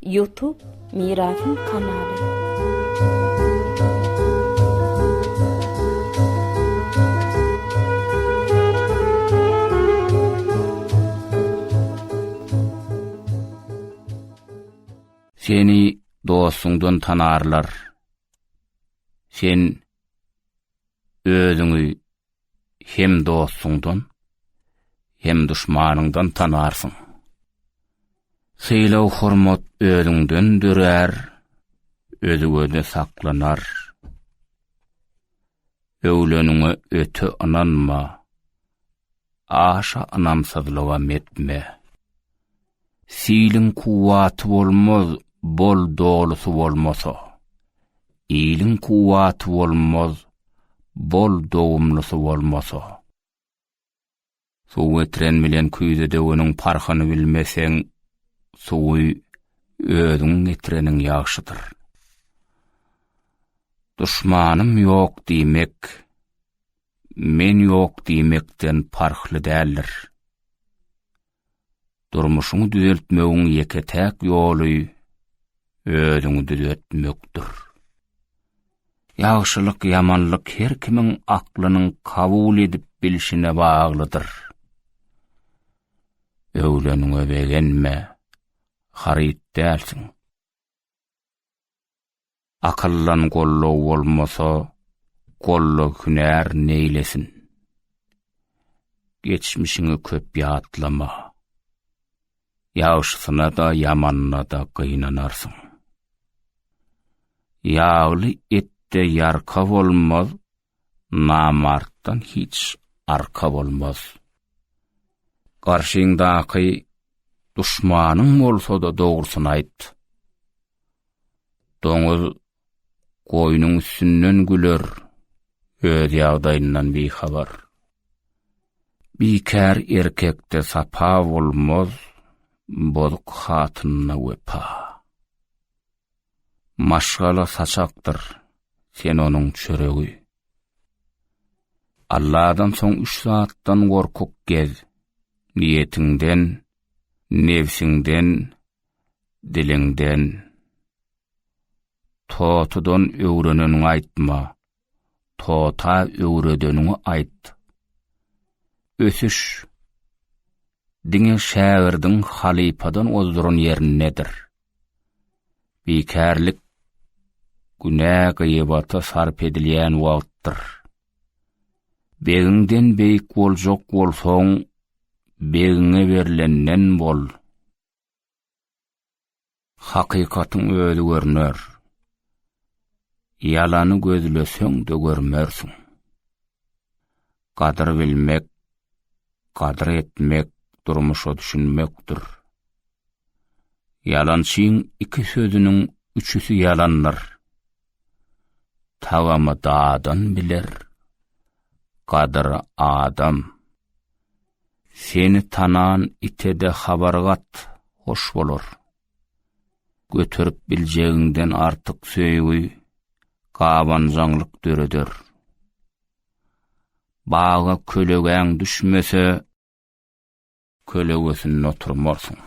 Youtube Mirasym kanaly. Seni dostuňdan tanarlar. Sen özüňi hem dostuňdan, hem duşmanyňdan tanarsyň. Sylag-hormat özüňden dörär, özüňe-de saklanar. Öwleniňe öte ynanma, aşa ynamsyzlyga metme. Siliň kuwwaty bolmaz, bol dolusy bolmasa. Iliň kuwwaty bolmaz, bol dogumlusy bolmasa. Suw getiren bilen küýze döweniň parhyny bilmeseň, suwy özüň getireniň ýagşydyr. Duşmanym ýok diýmek, men ýok diýmekden parhly däldir. Durmuşyňy düzeltmegiň ýeke-täk ýoly özüňi düzeltmekdir. Ýagşylyk-ýamanlyk her kimiň aklynyň kabul edip bilşine baglydyr. Öwleniňe begenme, haryt dälsiň. Akyldan gollag bolmasa, gollag hünär neýlesin? Geçmişiňi köp ýatlama. Ýagşysyna-da, ýamanyna-da gynanarsyň. Ýagly etde ýarka bolmaz, Namartdan hiç arka bolmaz. Garşyňdaky duşmanyň bolsa-da dogrusyny aýt. Doňuz goýnuň üstünden güler, öz ýagdaýyndan bihabar. Bikär erkekde sapa bolmaz, bozuk hatynyna wepa. Maşgala saçakdyr, sen onuň çöregi. Alladan soň üç zatdan gorkuk gez, niýetiňden, nebsiňden, diliňden. Totudan öwreneniňi aýtma, Tota öwredeniňi aýt. Ösüş diňe şägirdiň halypadan ozduran ýerindedir. Bikärlik günä gyýbata sarp edilýän wagtdyr. Begiňden beýik boljak bolsaň, begiňe berlenden bol. Hakykatyň özi görner. Ýalany gözleseň-de görmersiň. Gadyr bilmek, gadyr etmek, durmuşa düşünmekdir. Ýalançyň iki sözüniň üçüsi ýalandyr. Tagamy dadan biler, gadyry adam. Seni tanan ite-de habar gat, hoş bolar. Göterip biljegiňden artyk söýgi gabanjaňlyk döreder. Baga kölegäň düşmese, kölegesinde oturmarsyň.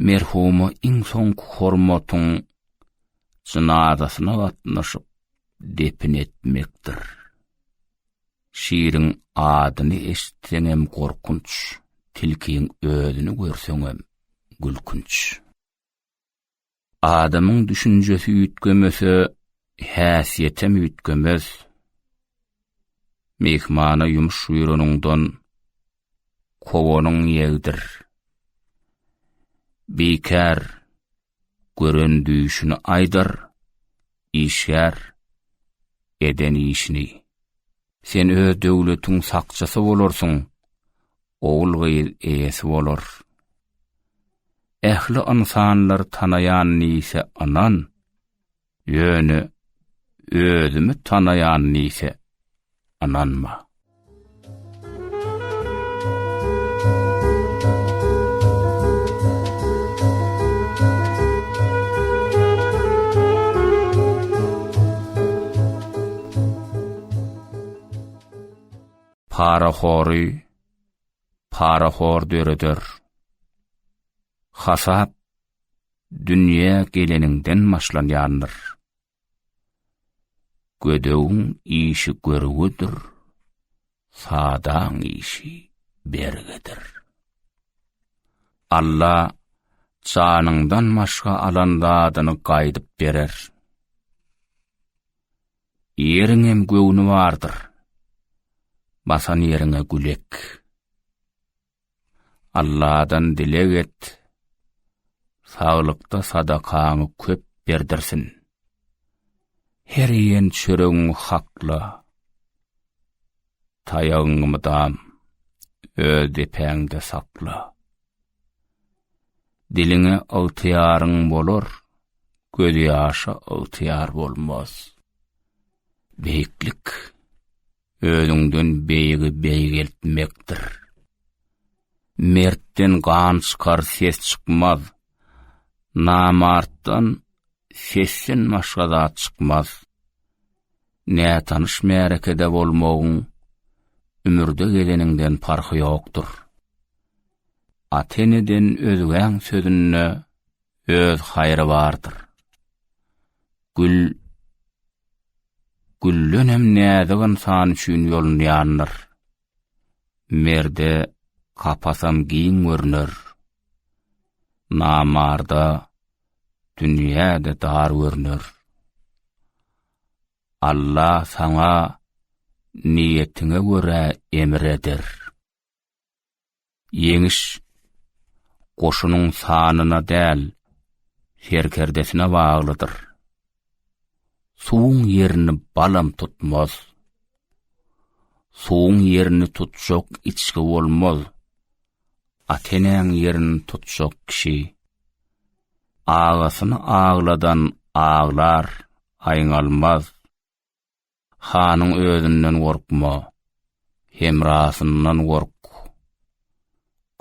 Merhuma iň soňky hormatyň jynazasyna gatnaşyp depin etmekdir. Şiriň adyny eşitseňem gorkunç, tilkiň özüni görseňem gülkünç. Adamyň düşünjesi üýtgemese, häsiýetem üýtgemez. Myhmana ýumuş buýranyňdan kowanyň ýegdir. Bikär gören düýşüni aýdar, işgär, eden işini. Sen öz döwletiň sakçysy bolarsyň, ogul-gyz eýesi bolar. Ähli ynsanlar tanaýan nise ynan, Ýöne özümi tanaýan diýse, ynanma. Parahory parahor döreder. Hasap dünýä geleniňden başlanýandyr. Gödegiň işi görgüdir, sadaň işi bergidir. Alla janyňdan başga alan zadyny gaýdyp berer. Ýeriň hem göwni bardyr. Basan ýeriňe gülek. Alladan dileg et, saglykda sadakaňy köp berdirsin. Her iýen çöregiňi hakla, taýagyňy mydam öz depäňde sakla. Diliňe ygtyýaryň bolar, gözýaşa ygtyýar bolmaz. Beýiklik. Özüňden beýigi beýgeltmekdir. Mertden gan çykar ses çykmaz. Namartdan sesden başga zat çykmaz. Nätanyş märekede bolmagyň ümürde geleniňden parhy ýokdur. Ata-eneden özgäň sözünde Öz haýry bardyr. Gül gülden hem näzik ynsan üçin ýolunýandyr. Merde kapasam giň görüner. Namarda dünýäde dar görüner. Allah saňa niýetiňe görä emir eder. Ýeňiş goşunyň sanyna däl, serkerdesine baglydyr. Suwuň ýerini balam tutmaz. Suwuň ýerini tutjak içgi bolmaz. Atenäň ýerini tutjak kişi. Agasyny agladan aglar, aýňalmaz. Hanyň özünden gorkma, hemrasyndan gork.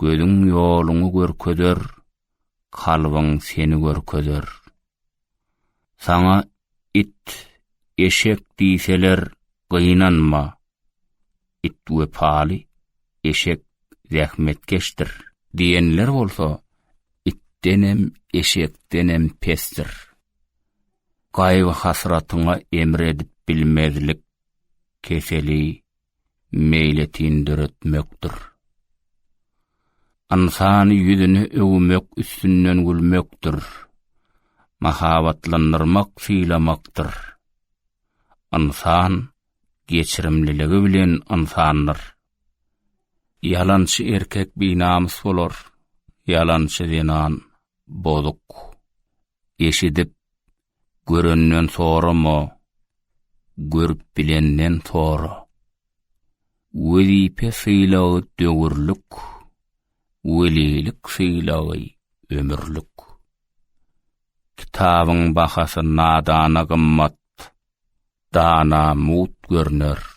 Gözüň ýoluňy görkezer, kalbyň seni görkezer. Saňa it, eşek diýseler, gynanma. It wepaly, eşek zähmetkeşdir. Diýenler bolsa, itdenem, eşekdenem pesdir. Gaýgy-hasratyňa emr edip bilmezlik keseli meýletin döretmekdir. Ynsany ýüzüne öwmek üstünden gülmekdir. Mahabatlandyrmak sylamakdyr. Ynsan geçirimliligi bilen ynsandyr. Ýalançy erkek binamys bolar, ýalançy zenan bozuk. eşidip, görenden sorama, görüp bilenden sora. Wezipe sylagy döwürlik, welilik sylagy ömürlik. Kitabyň bahasy nadana gymmat, dana mut görner.